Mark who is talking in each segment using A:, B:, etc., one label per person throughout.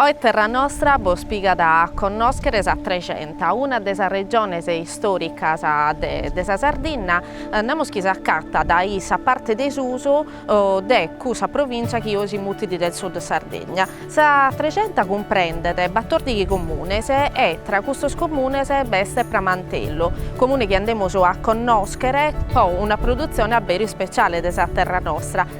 A: Oe Terra Nostra bos pigat a connòschere sa Trexenta, una de sas regiones istòricas de sa Sardinna, namus chi s'acatat dae sa parte de susu de cussa provìntzia chi oe si mutit del Sud Sardegna. Sa Trexenta cumprendet batòrdighi comunes e tra custos comunes b'est Pramantello, comune chi andemus a connòschere pro una produtzione a beru ispetziale de sa Terra Nostra,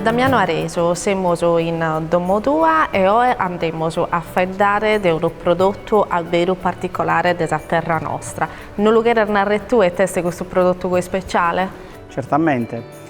A: Damiano Aresu, semus in domo tua e oe andemus a faeddare de unu prodotu abberu particolare de sa terra nostra. No lu cheres narrer tue ite est custu prodotu così speciale? Certamente.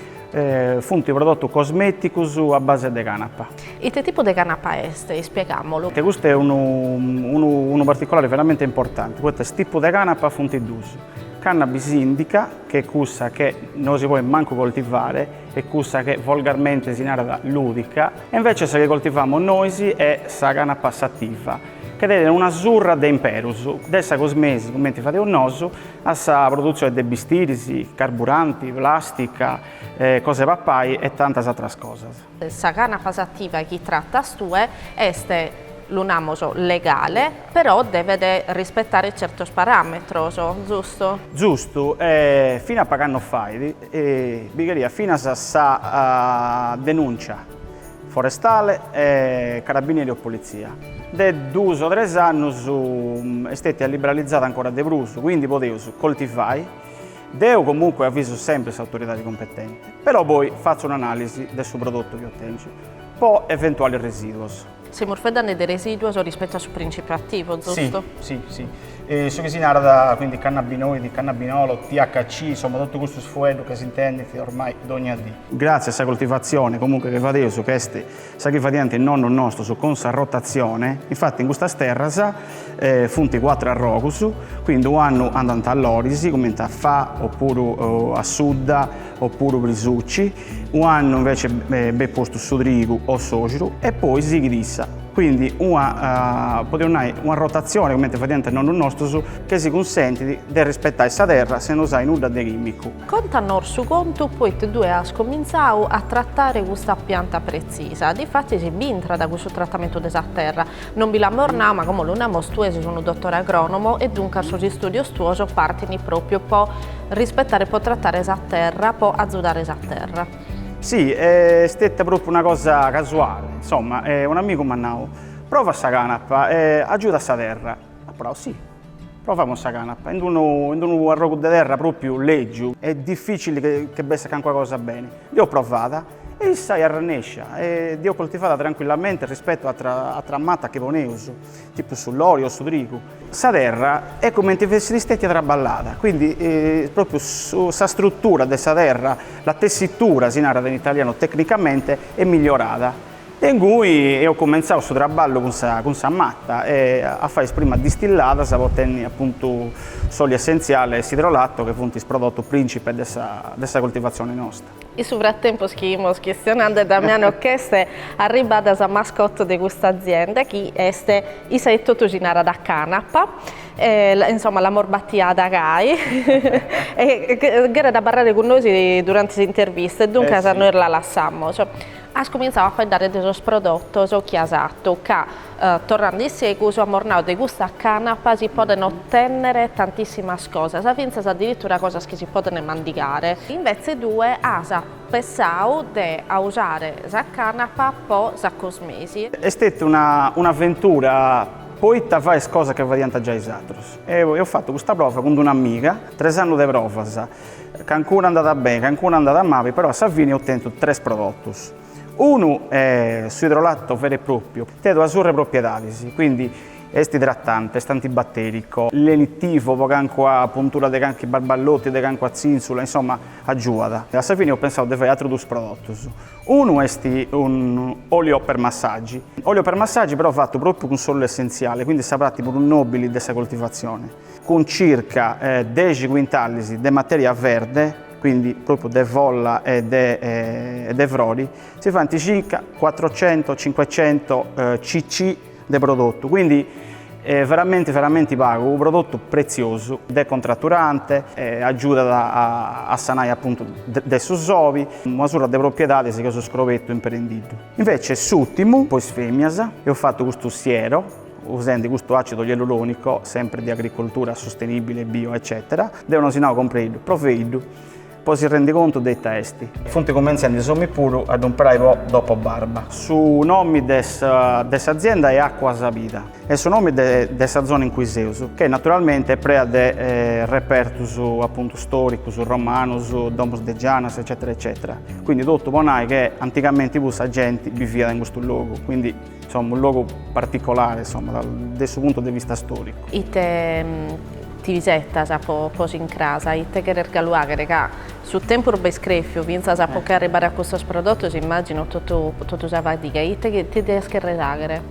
B: Funt prodotus cosmeticus a base de canapa. Ite tipu de
A: canapa est? Ispiegamolu. Custu
B: est unu particolare veramente importanti, poita is tipu de canapa funt dus, cannabis indica, che est cussa che no si poit mancu coltivare, e cussa che volgarmente si narat lùdica, e invece sa chi coltivamus nois est sa canapa sativa, che tenet una surra de imperus, de sa cosmesi, cumenti fadeus nosu, a sa produtzione de bistiris, carburanti, plàstica, cosa 'e papai e tantas atras cosas. Sa
A: canapa sativa chi tratas tue est, lu namus, legale? Però devet rispetare certos paràmetros, zustu? Zustu,
B: e fina a pag'annos fait, bi cheriat finas sa denùncia forestale e carabinieri o politzia. De duus o tres annus est stètia liberalizada ancora de prus, quindi podeus coltivai, deu comunque avisu sempri s'autoridadi competenti, però poi fatzu un'anàlisi de su prodotu chi otengiu po eventualis residuos. Semus
A: faedhende de residuos rispettu a su principiu attivo, zustu? Si, si,
B: si. Su chi si narat, quindi, cannabinoidi, cannabinolo, THC, insomma, totu custus fueddhus ca s'intendint ormai dogna dì. Gratzi a sa coltivatzione, comunque, chi fadeus, ca est sa chi fadiant is nonnus nostus cun sa rotatzione, infatti in custas terras funt cuatru arrogus, quindi u'annu andant a loris, cumenti a fa, opuru assudda, opuru prisuci, Ua annu invece benit postu su trigu o s'orxu e poi sighit issa. Quindi una, podeus nai, una rotazione comente fadiant nonnus nostus che si cunsentit de rispettai sa terra sena usai nudda de chimicu. Contanos
A: su contu poita tue as comintzau a trattare custa pianta pretzisa. Difatis si b'intrat cussu trattamentu de sa terra Non bi l'amus nau, ma como lu namus tue ses unu dotore agronomo e duncas sos istudios tuos partint propriu po rispetare e po trattare sa terra, po azudare sa terra. Si, est
B: steta propriu una cosa casuale, insomma, un'amigu m'at nau, prova sa canapa, agiudat a sa terra. Apo nau, si, provamus sa canapa, in unu arrogu de terra propriu lègiu e dificili che bessat cancuna cosa beni. Dd'eo provada E issa est arrennescia e dd'eus coltivada trancuillamente rispettu a atras matas chi poneus, tipu su lori o su trigu. Sa terra est cumenti fessit stètia traballada, quindi propriu sa struttura de sa terra, la tessitura si narat in italianu tecnicamente, est migliorada. E ingui eus cumentzau su traballu cun sa cun sa mata e a fai is primas distilladas po tenni apuntu s'olio essenziale e s'idrolato che funt is prodotus principes de sa de sa coltivazione nosta. In su
A: fratempus chi imus chistionande, Damiano, ch'est arribbada sa mascotte de custa azienda chi est issa etotu si narat canapa e insoma l'amus batiada gai e cheret abarrare cun nois durante s'intervista e duncas nois la lassamus. As cumintzau a faeddare de sos prodotos chi as atu, ca, torrande in segus, amus nau de custa canapa si podent otènnere tantissimas cosas, fintzas addiritura cosas chi si podent mandigare. Invètze tue as pessau de ausare sa canapa po sa cosmesi. Est stètia
B: una un'aventura poita fai is cosas chi fadiant giai is atrus. E eus fatu custa prova cun d'un'amiga, tres annus de provas. Cancuna andat beni, cancuna andat mali, però a sa fini eus tentu tres prodotus. Unu est su idrolatto veru e pròpiu, tenet una surra de propiedades, quindi est idratante, est antibatèricu, lenitivu po cancua puntura de cancu barballotti, de cancua tzìntzula, insomma agiuat. A sa fini eus pensau de fai atrus duus prodotus, unu est un'olio per massaggi, olio per massaggi però fatu pròpiu cun s'ollu essentziale, quindi sa prati prus nòbili de sa coltivatzione. cun circa dexi cuintalis de materia verde, quindi propriu de folla e de frori, si faint circa cuatrucento, cincuecento cc de prodotu, quindi veramenti veramenti pagu, unu prodotu pretziosu, decontraturante, agiudat a sanai apuntu de su soi, una surra de propriedadis chi eus scrobetu imperendiddu. Invece s'urtimu po is femias, eus fatu custu siero, usendi custu acidu ialuronico, sempre de agricoltura sostenibile, bio eccetera, deo no si nau compreiddu, proveiddu, po si rendi contu de ita esti. Funt cumentzendi is ominis puru a ddu imperai po dopo barba. Su nomi de de s'azienda è Acqua Sabida, est su nomi de de sa zona in cui seus, che naturalmente est prea de repertus appuntu storicus, romanus, domus de gianas eccetera eccetera, quindi totu po nai che antigamenti puru sa genti biviat in custu logu, quindi Insomma, un logu particolare, insomma, de su puntu de vista storicu.
A: Ite ti isettas po po s'incrasa? Ite cheres galu aghere ca su tempus b'est crefiu, fintzas po che arribare a custos prodotos immagino totu totu sa fadiga. Ite ti deas cherrer aghere?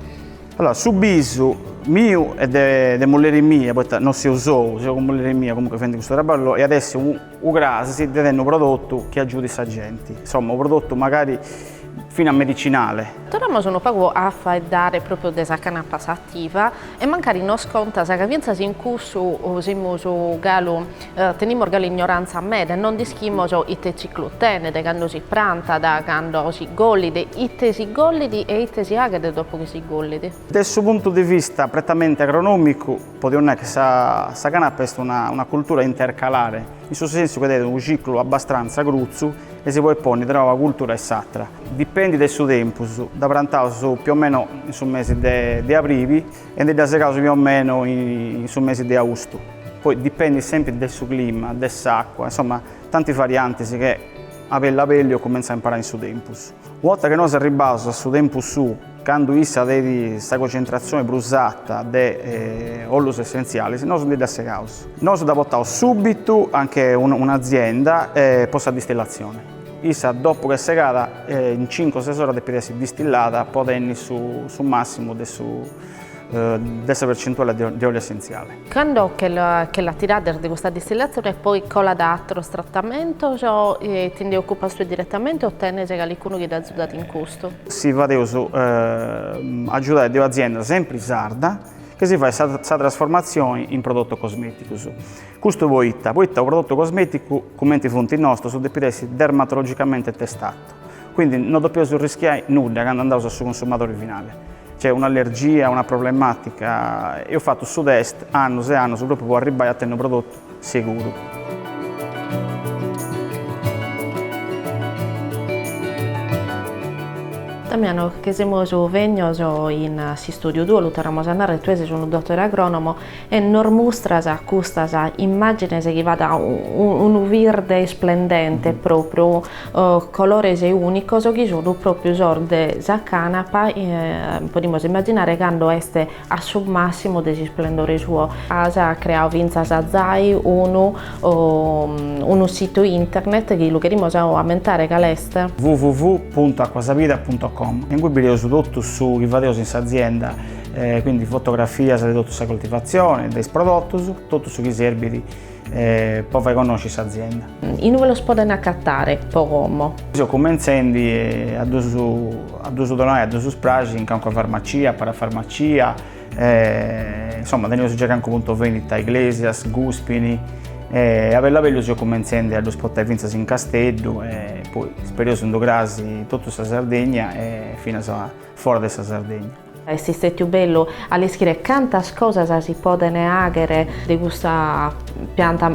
A: Allora,
B: su bisu miu e de de mulleri mia, poita non seu sou, seu cun mulleri mia, comunque fendi custu traballu e at essi u Ucras si de tennu u prodotu chi agiudit sa genti, insomma u prodotu magari finas medicinale. Torramus unu pagu
A: a faeddare propriu de sa canapa sativa e mancari nos contas ca fintzas in cussu semus galu tenimus galu ignoranza meda e non nd'ischimos ite ciclu tenet, cando si prantat, cando si gollit, ite si gollit e ite si faghet dopu chi si gollit. De su puntu de
B: vista pretamente agronomicu. Podimus nai chi sa canapa est una cultura intercalare, in su sensu chi tenet unu ciclu abbastranza crutzu e si podet ponni tra una cultura e s'atra. Dipendi de su tempus, dda prantaus più o meno in su mesi de abribi e ndi dda segaus più o meno in su mesi de austu. Poi dipendit sempri de su clima, de s'acua, insomma tanti variantis chi a bellu a bellu eus cumenzau a imparai in su tempus. Una 'orta chi nosu arribbaus a su tempus suu, Candu issa tenit sa concentratzioni prus ata de ollus essentzialis, nosu ndi dda segaus. Nosu dda potaus subitu anche un'azienda po sa distillazioni. Issa dopu chi est segada in cincu o ses oras depit essi distillada po tenni su massimu de sa percentuali de ollu essentziali.
A: Cando che la tirades de custa distillazione poi colat a atros tratamentos, ti nde occupas tue direttamente o tenes calicunu chi t'azudat in custu? Si fadeus
B: agiudare de un'azienda sempri sarda chi si fait sa trasformatzione in prodotos cosmeticos. Custu poita, poita unu prodotu cosmeticu cumenti funt is nostros depit essi dermatologicamente testatu. Quindi no depeus arriscai nudda candu andaus a su consumadori finali. Cioè un'allergia, una problematica, eus fatu su test annus e annus propriu po arribbai a tenni unu prodotu seguru.
A: Damiano, che semus bènnidos in s'istudiu tuu, lu torramus a narrer, tue ses unu dottore agronomo, E nos mustras custas immàgines chi ant unu virde isplendente pròpriu, colores ùnicos chi sunt pròpriu sos de sa cànapa, podimus immaginare cando est a su màssimu de s'isplendore suo. As creadu fintzas zai unu unu situ internet chi lu cherimus ammentare, cale est? www.acquasavida.com,
B: in cui bideus totu su chi fadeus in s'azienda quindi fotografias de totu sa coltivatzione e de is prodotus, totu su chi serbit po fai connosci s'azienda. Inue los podent
A: acatare, po como? Seu cumentzendi
B: a ddus a ddus donai a ddus spraxi in calincuna farmacia, parafarmacia, insoma teneus giai calincunu puntu vendita a Iglesias, Guspini, e a bellu a bellu seu cumentzendi a ddus portai fintzas in Casteddu e poi ispereus unu cras in totu sa Sardegna e finas fora de sa Sardegna. Est istètiu
A: bellu a leschire cantas cosas si podene àghere de custa pianta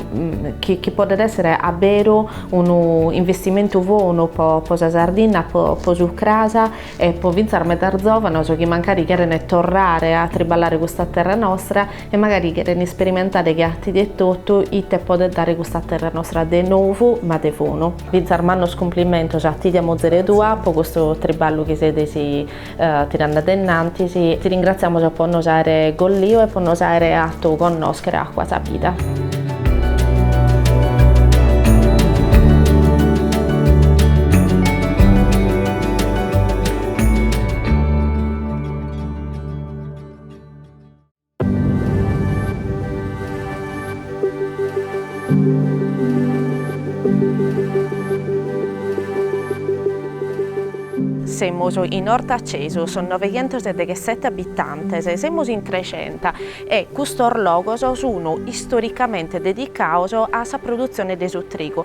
A: chi chi podet èssere a beru unu investimentu bonu po po sa Sardinna, po po su cras e po fintzas medas zòvanos chi mancari cherene torrare a triballare custa terra nostra e magari cherene isperimentare che a tie etotu ite podet dare custa terra nostra de nou ma de bonu. Fintzas mannos cumplimentos a tie e a muzere tua po custu triballu chi sedes Tirande a innantis, ti ringratziamus po nos àere golliu e po nos àere atu connòschere Acua sa Vida. Semus in Ortacesus, novejentos e deghesete abitantes, semus in Trexenta e custos logos sun istoricamente dedicados a sa produtzione de su trigu.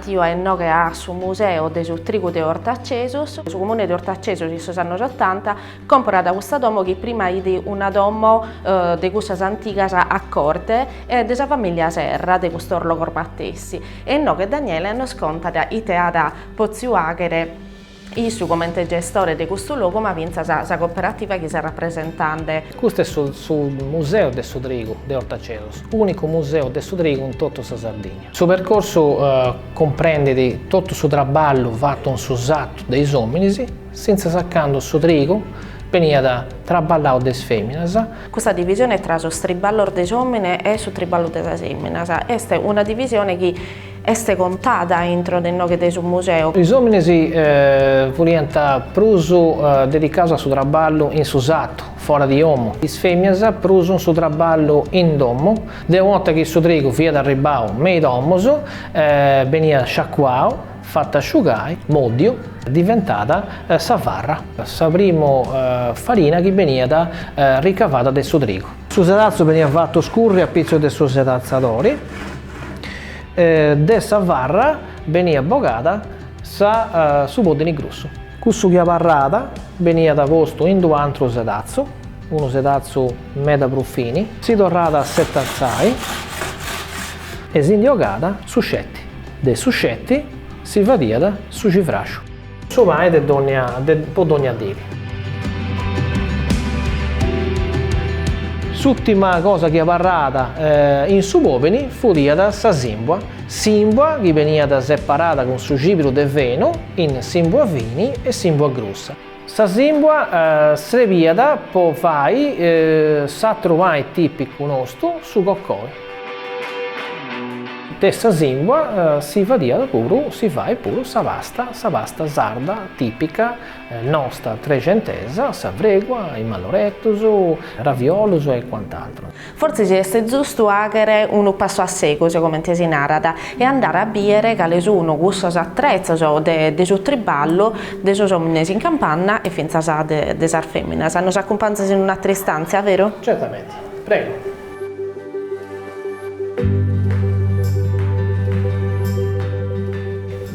A: Tio a inoghe a su Museu de su trigu de Ortacesus. Su Comune de Ortacesus in sos annos otanta comporat custa domo chi prima fit una domo de cussas antigas a corte e de sa famìllia Serra de custos logos matessi e inoghe Daniele nos contat ite at potziu àghere Issu comente gestore de custu logu ma fintzas sa cooperativa chi ses rapresentende. Custu
C: est su Museu de su trigu de Ortacesus, ùnicu museu de su trigu in totu sa Sardigna. Su percorsu cumprendet totu su traballu fatu in su satu de is òminis, fintzas a candu su trigu beniat traballau de is fèminas. Custa divisione
A: tra sos triballos de s'òmine e su triballu de sas fèminas est una divisione chi Est contada intro de inoghe de su museu. Is
C: òmines furiant prus dedicados a su traballu in su satu, fora di omu. Is fèminas prus in su traballu in domu. De una 'orta chi su trigu fiat arribbau me i domus, beniat sciacuau, fatu a sciugai, mòdiu, diventat sa farra, sa primu farina chi beniat ricavada de su trigu. Su sedatzu beniat fatu scurri a pitzus de su sedatzadori e de sa farra beniat bogada sa su poddini grussu. Cussu chi abarrada beniat postu in d'u antru sedatzu, unu sedatzu meda prus fini. Si torrada a setatzai e si ndi ogada su sceti. De su sceti si fadiat su civraxu. Su pani de po dònnia dì. S'ùtima cosa chi abarràt in su pòddini fudìat sa sìmbua, sìmbua chi beniat separada cun su cibiru de fenu in sìmbua fini e sìmbua grussa. Sa sìmbua srebìat po fai s'àteru pani tìpicu nostu, su cocoi. De sa sìmbua si fadiat puru, si fait puru sa pasta, sa pasta sarda tìpica nosta trexentesa, sa fregua, is malloreddus, raviolus e quant'altro. Fortzis est
A: zustu fàghere unu passu a segus, comente si narat, e andare a bìdere cale sunt cussos atretzos de su triballu de sos òmines in campanna e fintzas de sas fèminas. Nos acumpanzas in un'àtera istàntzia, vero? Certamente. Prego.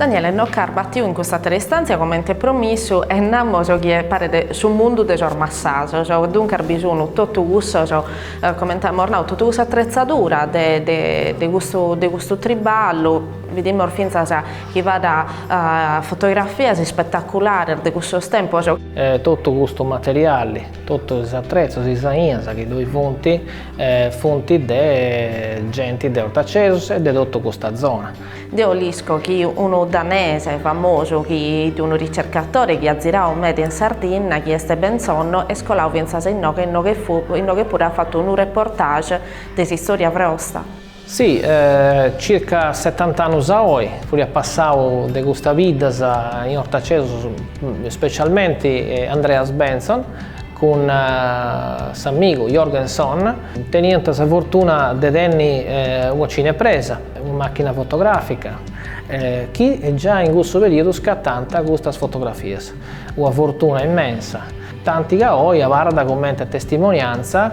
A: Daniele, nos ch'as batiu in custa àtera istàntzia comente promissu e namus chi paret su mundu de sos massasos e duncas bi sun totu cussos, comente amus nau, totu cussa atretzadura de de de custu de custu triballu, bidimus fintzas chi b'at fotografias ispetaculares de cussos tempos. Totu custu
C: materiali Totu is atretzos, is ainas chi ddoi funt, funt de genti de Ortacesus e de totu custa zona. Deo l'isco chi
A: unu danese famosu chi est unu ricercatore chi at zirau meda in Sardinna, chi est Bentzon, no, est colau fintzas inoghe, inoghe puru at fatu unu reportage de s'istòria brosta.
C: Si, circa setant'annus a oi, furiat passau de custas biddas in Ortacesus, specialmenti Andreas Bentzon cun s'amigu Jørgen Sonne teniant sa fortuna de tenni una cinepresa, una màchina fotogràfica, chi giai in cussu perìodu scatànt custas fotografias. Una fortuna immensa. tanti ca oi abarrat comente testimoniantza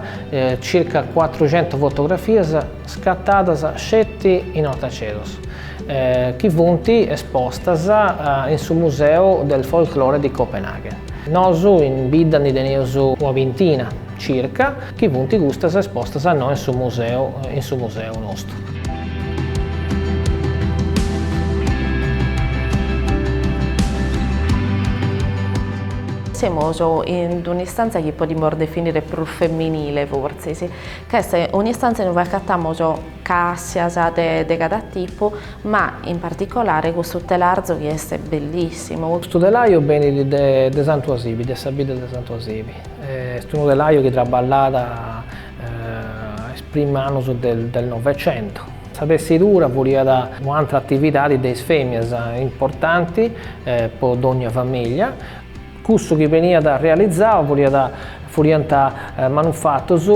C: circa cuatrucentu fotografias scattadas sceti in Ortacesus, chi funt espostas in su Museu del Folklore di Copenaghen. Nosu in bidda ndi teneus una bintina circa, chi funt custas espostas a innoi in su museu, in su museu nostru.
A: Semus in un'istantzia chi podimus definire prus feminile fortzis, ca est un'istantzia in ue acatamus càssias de de cada tipu, ma in particolare custu telarzu chi est bellissimu. Custu telaju
C: benit de de Santu Asibi, de sa bidda de Santu Asibi, est unu telaju chi traballat a is primus annus del Novecentu. Sa tessidura furiat u' antra atividadi de is femias importanti po dogna famiglia. Cussu chi beniat realizau furiat furiant manufatus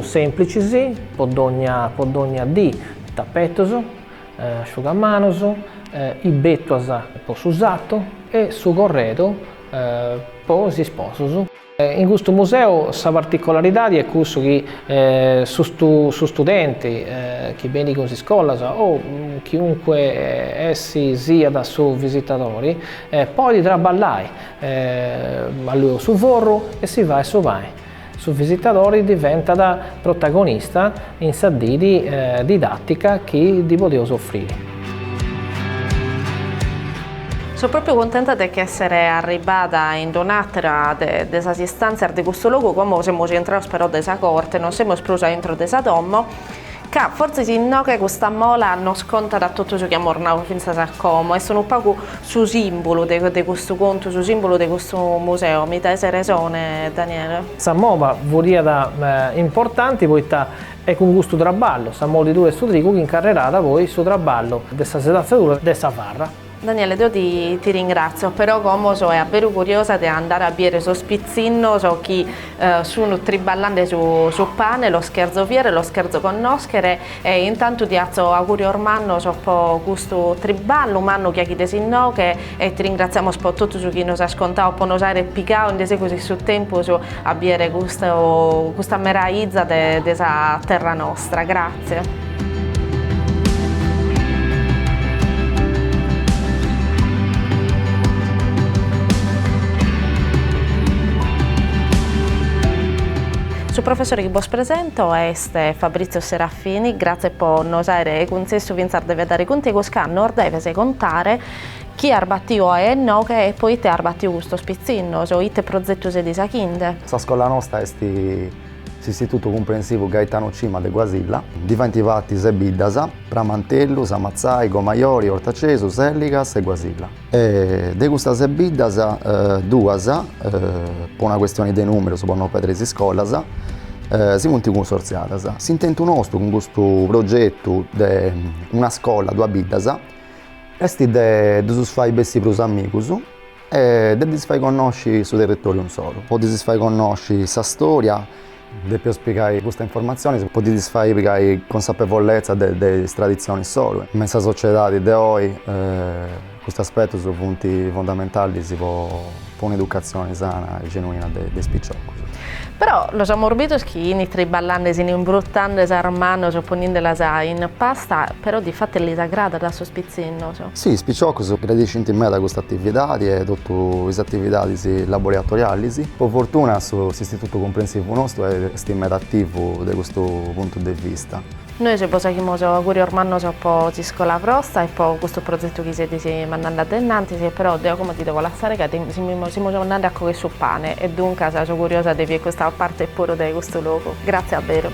C: semplicis po dogna po dogna dì, tapetus, asciugamanus, is betuas po su satu e su corredu po is sposus. In custu museu sa particolaridadi est cussu chi su studenti chi benit cun is iscolas o chiunque essi siat su visitadori podit traballai, allueus su forru e si fait su pani. Su visitadori diventat protagonista in sa didi didàtica chi ddi podeus
A: ofriri. So pròpiu cuntenta de che èssere arribada in d-un'àtera de sas istàntzias de custu logu, como semus intrados però dae sa corte, non semus prus a intro de sa domo, ca fortzis inoghe custa mola nos contat totu su chi amus nau fintzas a como, est unu pagu Su simbulu de de custu contu, su simbulu de custu museo, mi daes resone Daniele? Sa
C: mova furiat importanti poita est cun custu traballu, sa molidura 'e su trigu, chi incarrerat poi su traballu de sa sedantzadura de sa farra. Daniele deo
A: ti ti ringrazio, però como soe a beru curiosa de andare a biere sos pitzinnos chi sun triballande su su pane, los cherzo viere, los cherzo connoschere E intantu ti atzo augurios mannos po custu triballu mannu chi aghides inoghe e ti ringratziamos po totu su chi nos as contau po nos aere pigau in de segus in su tempus a biere custu custa meraiza de de sa terra nostra. Grazie. Su professore chi bos presento Est Fabrizio Serafini, grazie po nos aere cuntzessu fintzas de faeddare cun tegus ca nos deves contare chie as batiu oe inoghe e po ite as batiu custos pitzinnos o ite prozetu sedis aghinde. Sa scola
D: nosta est s'Istitutu Cumprensivu Gaetano Cima de Guasilla. Ndi faint parti ses biddas, Pramantellu, Samatzai, Gomajori, Ortacesu, Sèlligas e Guasilla. E de custas ses biddas duas, po una questione de numerus, po no pedri is iscolas, si funt cunsorziadas. S'intentu nostu cun custu progetu de una scola duas biddas est de ddus fai bessi prus amigus e de ddis fai connosci su territoriu insoru, po ddis fai connosci sa storia Depeus pigai custa informatzionis po ddis fai pigai consapevolezza de is traditzionis solu. Me in sa sociedadi de oi custus aspetus funt fundamentalis po po un educatzioni sana e genuina de de is piciocus. Però
A: los amorbidus chin triballande, s'imbrutande sas manos poninde las in pasta però de fatu lis agradat a sos pitzinnos. Si, is
D: piciocus gradiscint meda custa atividadi e totu is atividadis laboratorialis. Po fortuna su s'Istitutu Cumprensivu nostu est meda ativu de custu puntu de vista. Nois bos faghimus
A: augurios mannos po s'iscola bostra e po custu prozetu chi sedis mandande adenantis e però deo como ti devo lassare ca semus andande a cogher su pane e duncas so curiosa de bier custa parte puru de custu logu. Grazie a beru.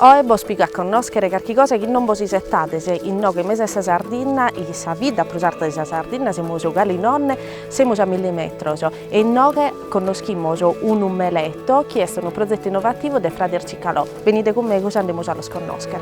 A: Oe bos pigo a connòschere carchi cosa chi non bos isetades inoghe in mesu 'e sa Sardinna, in sa bidda prus arta de sa Sardinna semus ca in 'onne, semus a milli metros e inoghe connoschimos unu meleto chi est unu prozetu innovativu de Frades Cicalò. Benide cun megus e andemus a los connoscher.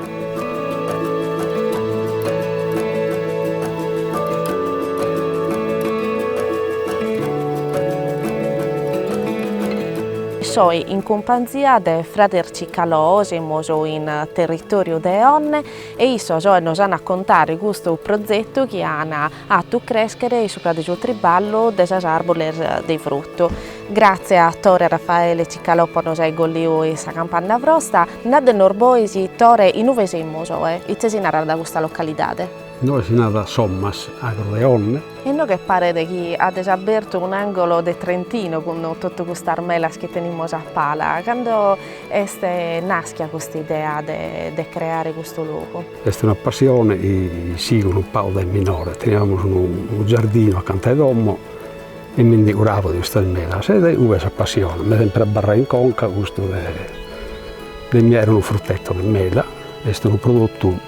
A: So in cumpanzia de frades Cicalò, semus in territoriu de 'onne e issos oe nos an a contare custu prozetu chi an atu crèschere in su padre su triballu de sas àrboles de frutu. Gratzie a Tore, a Rafaele Cicalò po nos ai golliu in sa campanna bostra. Nade nos bois, Tore, in ue semus oe? Itzesi narat custa localidade? Inoghe si
E: narat Sommas, agru de onne. Inoghe
A: paret chi ades abertu un'àngolo de Trentino cun totu custas melas chi tenimus a pala. Cando est nàschia cust'idea de creare custu logu? Est una
E: passione e sigo unu pagu dae minore. Teniamus unu giardinu acanta 'e domo e mi ndi curabo de custas melas e dae cue sa passione m'est sempre abarrau in conca custu de mi 'àere unu fruteto de mela, est unu prodotu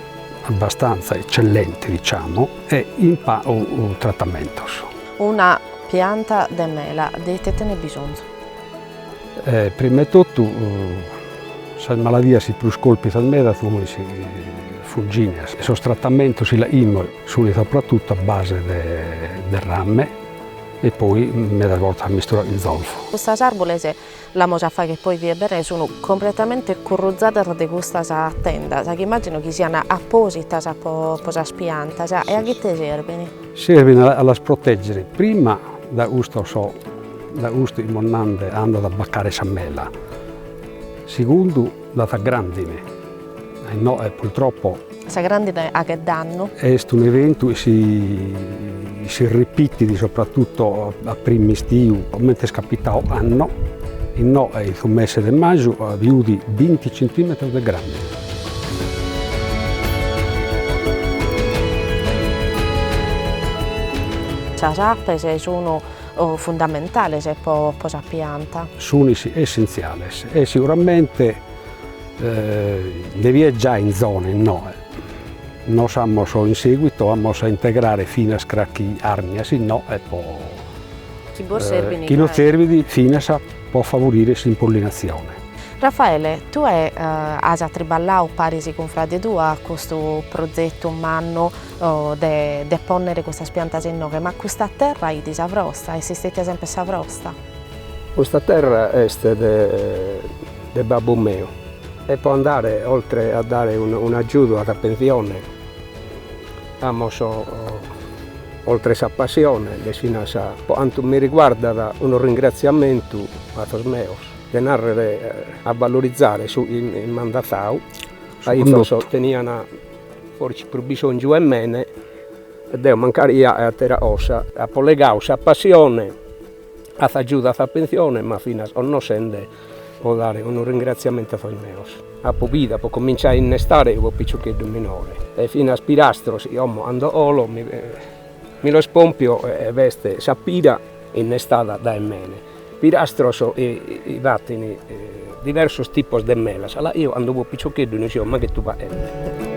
E: abbastanza eccellente diciamo e in pagu tratamentos. Una
A: pianta de mela de ite tenet bisonzu?
E: Prima 'e totu sas maladias 'i prus colpint sas melas sun sas funginas e sos tratamentos 'i 'aimos sunt soprattutto a base de ramme e poi medas bortas misturau 'in zolfu. Custas
A: arboles l'amus a fagher poi vie bene sunu completamente curruzadas de custas tendas chi immagino chi sian appositas po sas piantas e a ghite serbin? Serbint a
E: las protègere prima da custu so da custu imos nande andat a bacare sa mela, segundu da sa grandine, innoe purtroppo. Sa grandine
A: aghet dannu. Est un eventu
E: chi si si ripitit sopratutto a prim'istiu comente est capitau ocanno, innoe in su mese de maju at biudi binti centimetros de grandine.
A: Sas apes sun fundamentales po sa pianta. Sun
E: essentziales e seguramente nde b'iat giai in zona innoe, nos amus in seguito amus a integrare finas crachi arnia si no e po chi no serbit finas po favorire s'impollinazione.
A: Rafaele, tue as atriballadu paris cun frade tuo a custu prozetu mannu de de pònnere custas piantas inoghe, ma custa terra fit sa brosta, est istetia semper sa brosta? Custa
F: terra est de de babbu meu e po andare oltre a dare un'agiudu a sa pensione amus oltre sa passione est finas po cantu mi riguardat unu ringraziamentu a sos meos de nàrrere a vallorizare su chi m'ant dassau, ca issos teniant fortzis prus bisòngiu 'e mene e deo mancari ia e atera cosa. Apo collegadu sa passione, a agiudu a sa pentzione, ma finas connoschende po dare unu ringratziamentu a sos meos, apo bidu, apo cominciadu a innestare unu piciocheddu minore e finas pirastros chi como cando 'olo mi los pompio e b'est sa pira innestada dae mene. Pirastros fatin diversos tipos de melas, a la eo cando fuo piciocheddu no isio mai ghetu
A: faeddare.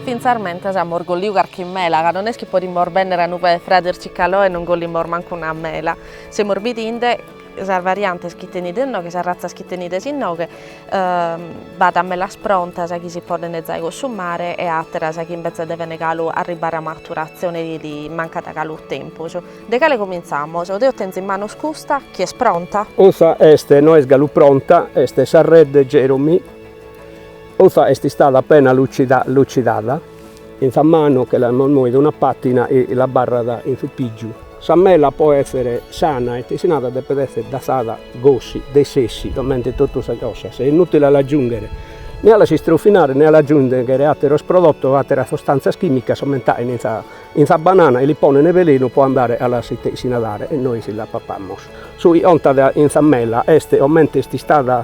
A: Fintzamentas amus golliu carchi mela, ca non est chi podimus bennere a inube de frades Cicalò e non gollimus mancu una mela, semus bidinde Sas variantes chi tenides inoghe, sas ratzas chi tenides inoghe, b'at melas prontas chi si podent zai cunsumare e àteras chi imbetzes devene galu arribare a maturatzione li mancat galu tempus. De cale comintzamos? Deo tenzo in manos custa, chi est pronta? Custa est,
F: no est galu pronta, est sa Red Jeromine, custa est istada appena lucidada. In sa manu che l'amus moida una patina e l'abarrat in su pìgiu. Sa mela po èssere sana e itesinada depet èssere dassada gossi, de sessi, comente totu sas cosas. Est inùtile a l'agiùnghere, ne a las istrofinare ne a l'agiùnghere àteros prodotos o àteras sustàntzias chìmicas comente in sa in sa banana e li ponene velenu po andare a las itesinadare e nois las papamus. Su chi contat in sa mela est comente est istada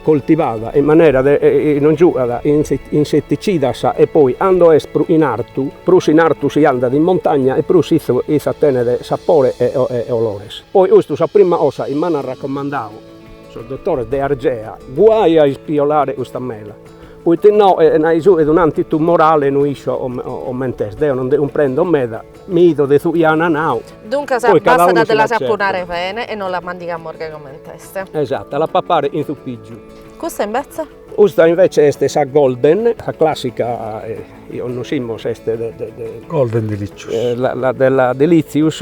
F: coltivada in manera de non giugat inseticidas e poi ando est prus in artu, prus in artu si andat in montagna e prus issa tenet sapore e olores. Poi custu sa prima cosa chi m'an racomandadu sos dotores de Argea, guai a ispiolare custa mela, poita innoi, nai su, est un'antitumorale no isco comente est, deo non nde cumprendo meda, Mi fido de su chi an nau. Duncas
A: bastat de la sapunare bene e nos la mandigamus gai comente est. Esatto, la papare
F: chin su pìgiu. Custa invece?
A: Custa invece
F: est sa Golden, sa classica chi connoschimus est de de.
E: Golden Delicious. La de la
F: Delicious,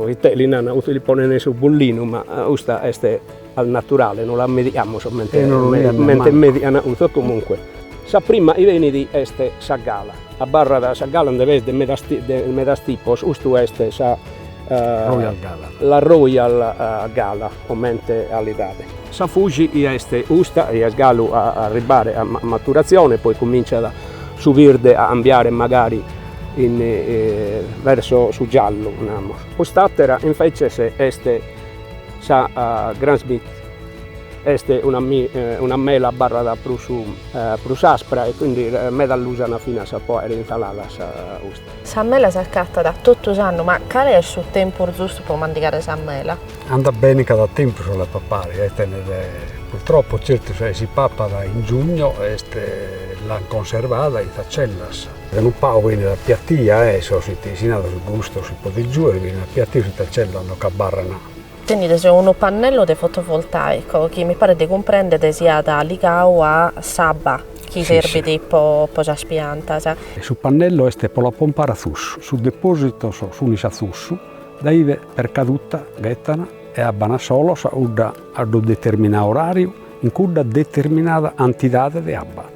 F: ite li nana custu li ponene su bullinu ma custa est Est naturale, non las mediamus comente median cussas. Comunque, sa prima chi benit est sa gala. Abarrat sa gala nde b'est de medas de medas tipos, custu est sa
E: la royal
F: gala comente calidade. Sa fuji chi est custa, chi est galu a arribbare a maturazione, poi cominciat su birde a cambiare magari in verso su giallu, namus. Cust'atera invece est Sa Grand Smith est una mela abarrat prus aspra e quindi meda l'usana finas po aere insaladas custa. Sa
A: mela s'acatat totu s'annu, ma cale est su tempus zustu po mandigare sa mela? Andat bene
E: cada tempus a la papare, e tenet purtroppo certu si si papat in giugno est l'an conservada in sas cellas. De unu pagu benit appiattiu e su itesinada su gustu si podit giuere, benit appiattiu si in sa cella ando c'abarrana. Tenides unu
A: pannello de fotovoltaico chi mi paret de cumprendere siat ligadu a s'abba chi serbit po sas piantas. Su
E: pannello est pro la pompare a susu, sos depositos sunis a susu, dae ive per caduta ghetan e abban solos udda a uddu determinadu orariu in cudda determinada antidade de abba.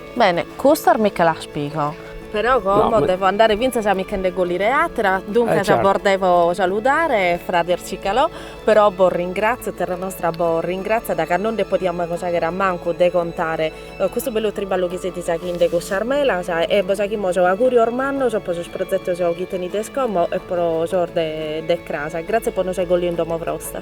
E: Bene,
A: custas mi che las pigo. Però como devo andare fintzas a mi che nde collire atera, duncas bos devo saludare frades Cicalò, però bos ringrazio, terra nostra bos ringrazziat ca non nde podiamus ancus aghere a mancu de contare custu bellu triballu chi setis aghinde cun sas melas e bos aghimus augurios mannos po sos prozetos chi tenides como e pro sos de cras. Grazie
E: po
A: nos aer colliu in domo
F: brosta.